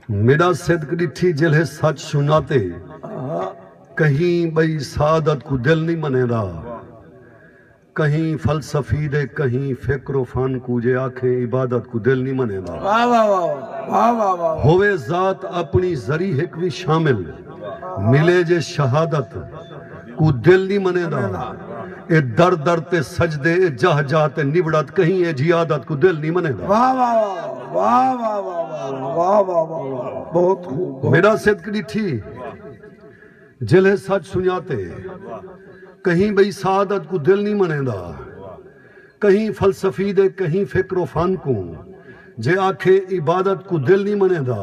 میݙا صدق ݙٹھی جیلھے سچ سنڄاتے کہیں ٻئی سعادت کوں دل نئیں منیندا کہیں فلسفی دے کہیں فکر و فن کوں جے آکھیں عبادت کوں دل نئیں منیندا ہووے ذات اپݨی ذری ہک وی شامل ملے جے شہادت کوں دل نی منیندا اے در در تے سجدے اے جاہ جاہ تے نبڑت کہیں اے جھی عادت کوں دل نی منیندا میݙا صدق ݙٹھی جلھے سچ سنڄاتے کہیں ٻئی سعادت کوں دل نی منیندا۔ کہیں فلسفی دے کہیں فکر و فن کوں جے آکھے عبادت کوں دل نی منیندا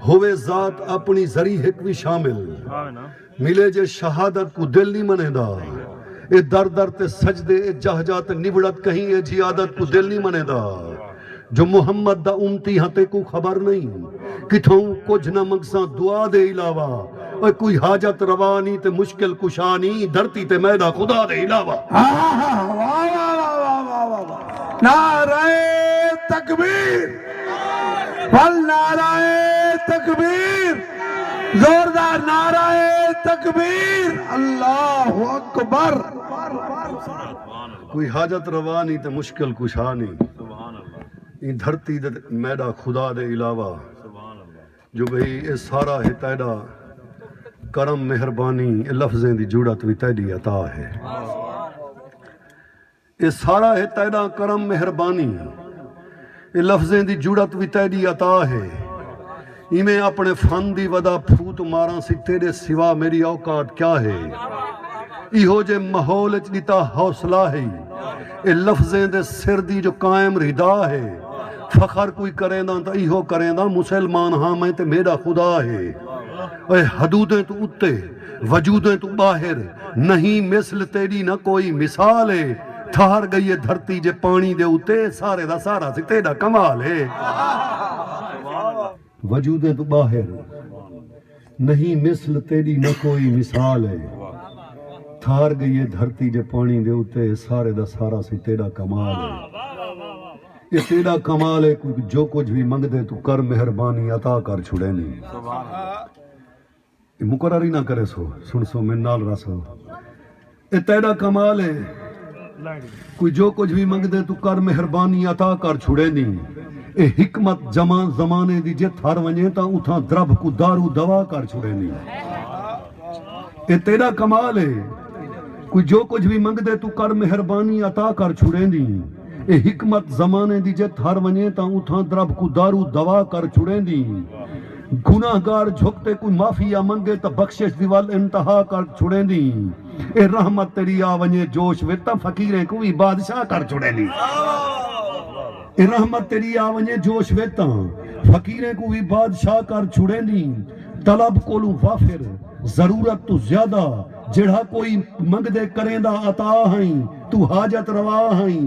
ہووے ذات اپنی ذری ہک وی شامل ملے جے شہادت کوں دل نی منیندا اے در در تے سجدے اے جاہ جاہ تے نبڑت کہیں ایجھی عادت کوں دل نی منیندا۔ جو محمد دا امتی ہاں تیکوں خبر نئیں کتھاؤں کجھ نہ منگساں دعا دے علاوہ اوئے کوئی حاجت روا نیں تے مشکل کشا نیں دھرتی تے میڈا خدا دے علاوہ۔ نعرہ تکبیر بھل نعرہ تکبیر زوردار نعرہ تکبیر اللہ اکبر۔ کوئی حاجت روا نی تے مشکل کشا نی ایں دھرتی تے میڈا خدا دے علاوہ جو بھئی اے سارا ہے تیڈا کرم مہربانی اے لفظیں دی جڑت وی تیڈی عطا ہے اے سارا ہے تیڈا کرم مہربانی اے لفظیں دی جرات وی تیڈی عطا ہے ایویں اپنے فن دی ودا پھوت ماراں سی تیڈے سوا میڈی اوقات کیا ہے ایہو جے ماحول اچ ڈتا حوصلہ ہئی اے لفظیں دے سر دی جو قائم رھدا ہے فخر کوئی کرینداں تاں ایہو کرینداں مسلمان ہاں میں تے میڈا خدا ہے اے حدودیں توں اتے وجودیں توں ٻاہر نہیں مثل تیݙی نہ کوئی مثال ہے تھہر ڳئی ہے دھرتی جے پاݨی دے اتے سارے دا سارا سی تیݙا کمال ہے وجودیں توں ٻاہر نہیں مثل تیݙی نہ کوئی مثال ہے تھہر ڳئی ہے دھرتی جے پاݨی دے اتے سارے دا سارا سی تیݙا کمال ہے یہ تیرا کمال ہے کوئی جو کچھ بھی منگ دے تو کر مہربانی عطا کر چھڑے نہیں اے مقرر ہی نہ کریس ہو سنسو من نال رس ہو اے تیڈا کمال اے کوئی جو کجھ وی منگدے توں کر مہربانی عطا کر چھڑیندیں اے حکمت جمع زمانے دی جے تھر ونجے تاں اتھاں دربھ کوں دارو دوا کر چھڑیندیں اے تیڈا کمال اے کوئی جو کجھ وی منگدے توں کر مہربانی عطا کر چھڑیندیں اے حکمت زمانے دی جے تھر ونجے تاں اتھاں دربھ کوں دارو دوا کر چھڑیندیں گناہ گار جھک تے کوئی معافی یا منگے تاں بخشش دی ول انتہا کر چھوڑیندیں۔ ایہ رحمت تیݙی آ ونڄے جوش وچ تاں فقیریں کوں وی بادشاہ کر چھوڑیندیں۔ ایہ رحمت تیݙی آ ونڄے جوش وچ تاں فقیریں کوں وی بادشاہ کر چھوڑیندیں۔ طلب کولوں وافر، ضرورت توں زیادہ، جیڑھا کوئی منگدے کریندا عطا ہئیں، توں حاجت روا ہئیں،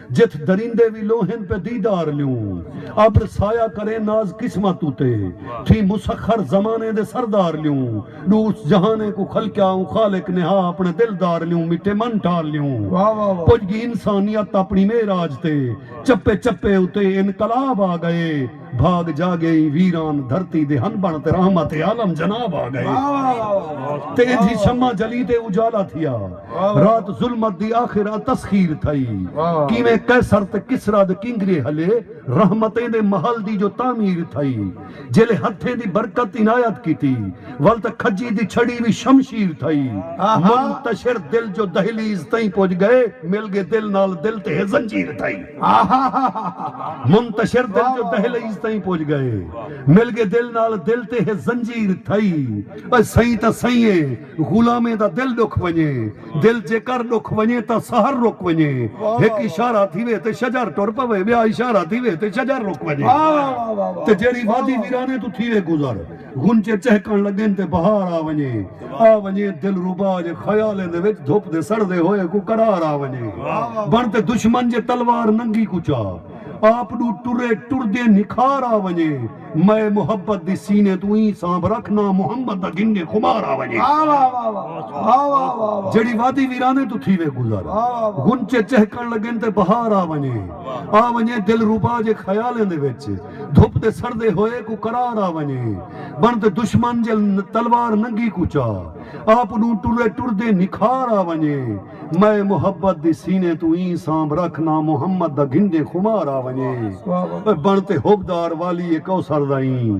جتھ دریندے وی لوہن پہ دیدار لیوں ابر سایہ کریں ناز قسمت اتے تھیں مسخر زمانے دے سردار لیوں ڈوس جہانیں کوں خلقیا اوں خالق نہا اپنے دلدار لیوں مٹے من ٹال لیوں پج گی انسانیت اپنی معراج تے چپے چپے اتے انقلاب آ گئے بھاگ جاگے ایں ویران دھرتی دے ہن بݨ تے رحمت عالم جناب آ ڳئے تے اینجھی شمع جلی تے اجالا تھیا رات ظلمت دی آخر ا تسخیر تھئی کیویں قیصر تے کسری دے کنگرے ہلے رحمتیں دے محل دی جو تعمیر تھئی جیلے ہتھیں دی برکت عنایت کیتی ول تے کھجی دی چھڑی وی شمشیر تھئی منتشر دل جو دہلیز تئیں پج ڳئے مل ڳے دل نال دل تے ہے زنجیر تھئی۔ منتشر دل جو دہلیز تئیں پج گئے مل گے دل نال دل تے ہے زنجیر تھئی اے سئیں تاں سئیں اے غلامیں دا دل ڈکھ ونجے دل جیکر ڈکھ ونجے تاں سحر رک ونجے ہک اشارہ تھیوے تے شجر ٹر پوے بیا اشارہ تھیوے تے شجر رک ونجے تے جیڑھی وادی ویرانے توں تھیوے گزر غنچے چہکݨ لڳن تے بہار آ ونڄے آ ونڄے دلربا جے خیالیں دے وچ دھپ دے سڑدے ہوئے کوں قرار آ ونڄے بݨ تے دشمن جے تلوار ننگی کوں چا آپ ݙو ٹرے ٹردیں نکھار آ ونڄے مئے محبت دی سینے توں ایں سانبھ رکھ ناں محمد دا گھنگے خمار آ ونڄے جیڑھی وادی ویرانے توں تھیوے گزر غنچے چہکݨ لڳن تے بہار آ ونڄے آ ونڄے دلربا جے خیالیں دے وچ۔ دھپ دے سڑدے ہوئے کوں قرار آ ونڄے بݨ تے دشمن جل تلوار ننگی کوں چا آپ ݙوں ٹرے ٹردے نکھار آ ونڄے مئے محبت دی سینے توں ایں سانبھ رکھ ناں محمد دا گھنڈیں خمار آ ونڄے بݨ تے حبدار والی کوثر دا ایں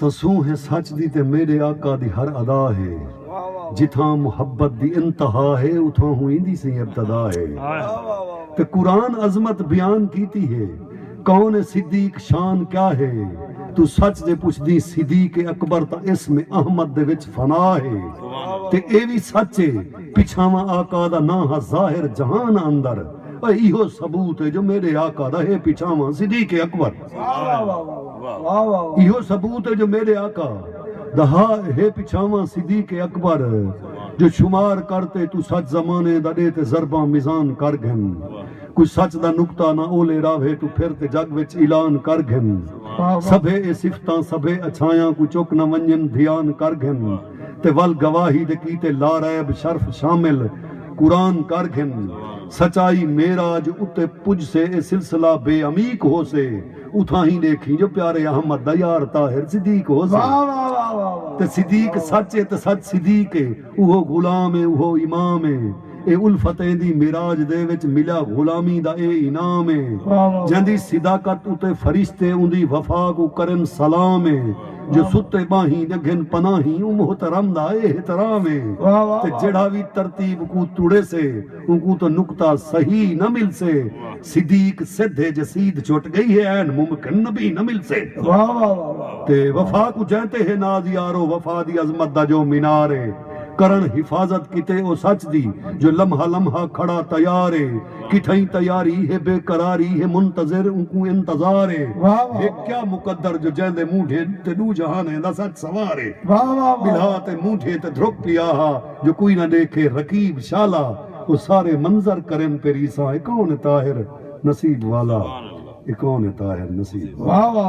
تسوں ہے سچ دی تے میݙے آقا دی ہر ادا ہے جتھاں محبت دی انتہا ہے اتھاں ہوں ایندی سئیں ابتدا ہے تے قرآن عظمت بیان کیتی ہے کون صدیق شان کیا ہے توں سچ جے پچھدیں صدیق اکبر تاں اسم احمد دے وچ فنا ہے تے ایہ وی سچ ہے پچھاواں آقا دا ناں ہا ظاہر جہان اندر ایہو ثبوت ہے جو میݙے آقا دا ہے پچھاواں صدیق اکبر۔ ایہو ثبوت ہے جو میݙے آقا دا ہا ہے پچھاواں صدیق اکبر جو شمار کر تے توں سچ زمانے دا ݙے تے ضرباں میزان کر گھن کوئی سچ دا نقطہ نہ اولے راہوے توں پھر تے جگ وچ اعلان کر گھن سبھے اے صفتاں سبھے اچھایاں کوں چک نہ ونڄن دھیان کر گھن۔ تے ول گواہی دے کیتے لاریب شرف شامل قرآن کر گھن سچائی معراج اتے پجسے اے سلسلہ بے عمیق ہوسے اتھاہیں ڈیکھیں جو پیارے احمد دا یار طاہر صدیق ہوسے تے صدیق سچ اے تے سچ صدیق اے اوہو غلام اے اوہو امام اے اے الفت ایندی معراج دے وچ ملیا غلامی دا اے انعام اے جیندی صداقت اتے فرشتے اوندی وفا کوں کرن سلام اے۔ جو ستے ٻانہیں دے گھن پناہیں اوں محترم دا اے احترام اے تے جیڑھا وی ترتیب کوں تڑیسے اونکوں تاں نکتہ صحیح نہ ملسے صدیق سدھ اے جے سید چھٹ ڳئی ہے عین ممکن نبی نہ ملسے تے وفا کوں جیں تے ہے ناز یارو وفا دی عظمت دا جو مینار اے کرن حفاظت کیتے او سچ دی جو لمحہ لمحہ کھڑا تیار اے۔ کتھائیں تیاری ہے بے قراری ہے منتظر اونکوں انتظار ہے ہک کیا مقدر جو جیندے مونڈھے تے ݙو جہانیں دا سچ سوار ہے ٻلھا تے مونڈھے تے دھرک پیا ہا جو کوئی نہ ݙیکھے رقیب شالا او سارے منظر کرن پہ ریساں اے کون اے طاہر نصیب والا اے کون اے طاہر نصیب والا۔